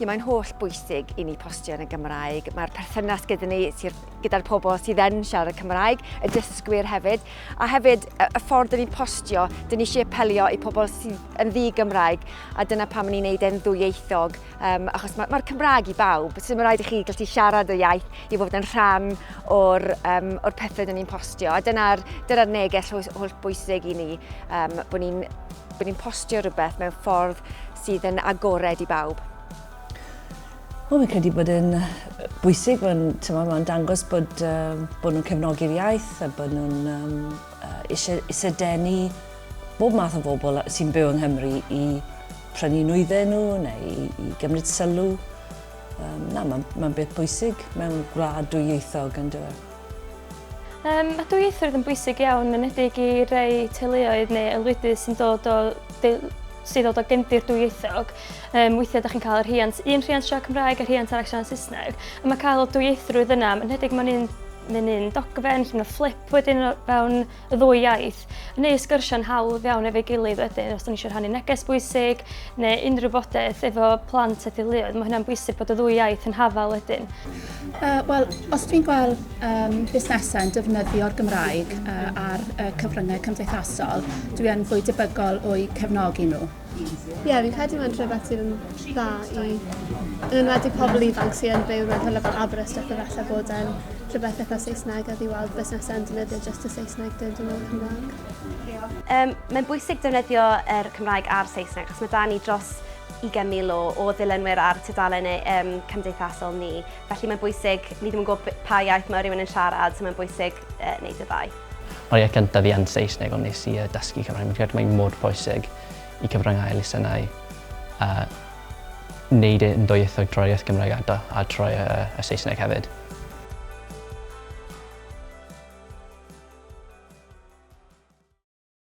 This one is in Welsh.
Ie, mae'n holl bwysig i ni postio yn y Gymraeg. Mae'r perthynas gyda ni, gyda'r pobl sydd yn siarad y Cymraeg, y dysgwyr hefyd, a hefyd y ffordd dyn ni'n postio, dyn ni eisiau apelio i pobl sydd yn ddi Gymraeg, a dyna pam ni'n neud e'n ddwyieithog, um, achos mae'r ma Cymraeg i bawb, so mae'n rhaid i chi gallu siarad y iaith i fod yn rhan o'r, um, or pethau dyn ni'n postio, a dyna'r dyna neges holl bwysig i ni, um, bod ni'n bod ni'n postio rhywbeth mewn ffordd sydd yn agored i bawb. Wel, fi'n credu bod e'n bwysig, mae'n ma dangos bod, uh, bod nhw'n cefnogi'r iaith a bod nhw'n um, uh, eisiau, eisiau denu bob math o bobl sy'n byw yng Nghymru i prynu nwyddau nhw neu i, i gymryd sylw. Um, na, mae'n ma beth bwysig mewn gwlad dwyieithog yn dweud. Um, mae dwyieithrwydd yn bwysig iawn, yn edig i rei teuluoedd neu aelwydydd sy'n dod o sydd o gefndir dwyieithog. Um, weithiau ydych chi'n cael rhiant, un rhiant siarad Cymraeg a rhiant arall siarad Saesneg. A mae cael dwyieithrwydd yna, yn hedig mae'n un, mae'n un dogfen, lle mae fflip wedyn fewn y ddwy iaith, neu sgyrsio'n hawdd iawn efo'i gilydd wedyn os da ni eisiau rhannu neges bwysig neu unrhyw fodaeth efo plant a theuluoedd. Mae hynna'n bwysig bod y ddwy iaith yn hafal wedyn. Uh, Wel, os dwi'n gweld um, busnesau yn defnyddio'r Gymraeg uh, ar uh, cyfryngau cymdeithasol, dwi yn fwy debygol o'i cefnogi nhw. Ie, fi'n credu mae'n rhywbeth sydd yn dda i... Yn enwedig pobl ifanc sydd yn byw mewn hwle fel Aberystwyth a falle bod e'n rhywbeth eitha Saesneg a fi weld busnesau yn defnyddio just y Saesneg dyn dyn nhw'n Cymraeg. Um, mae'n bwysig defnyddio er Cymraeg a'r Saesneg, achos mae da ni dros 20,000 o, o ddilynwyr ar tudalen um, cymdeithasol ni. Felly mae'n bwysig, ni ddim yn gwybod pa iaith mae rhywun yn siarad, so mae'n bwysig uh, wneud y ddau. Mae'r iaith gyntaf fi yn Saesneg ond nes i yy dysgu Cymraeg. Fi'n credu mae mor pwysig i cyfryngau elusennau yy neud e'n ddwyieithog trwy'r iaith Gymraeg a da- a trwy yy y Saesneg hefyd.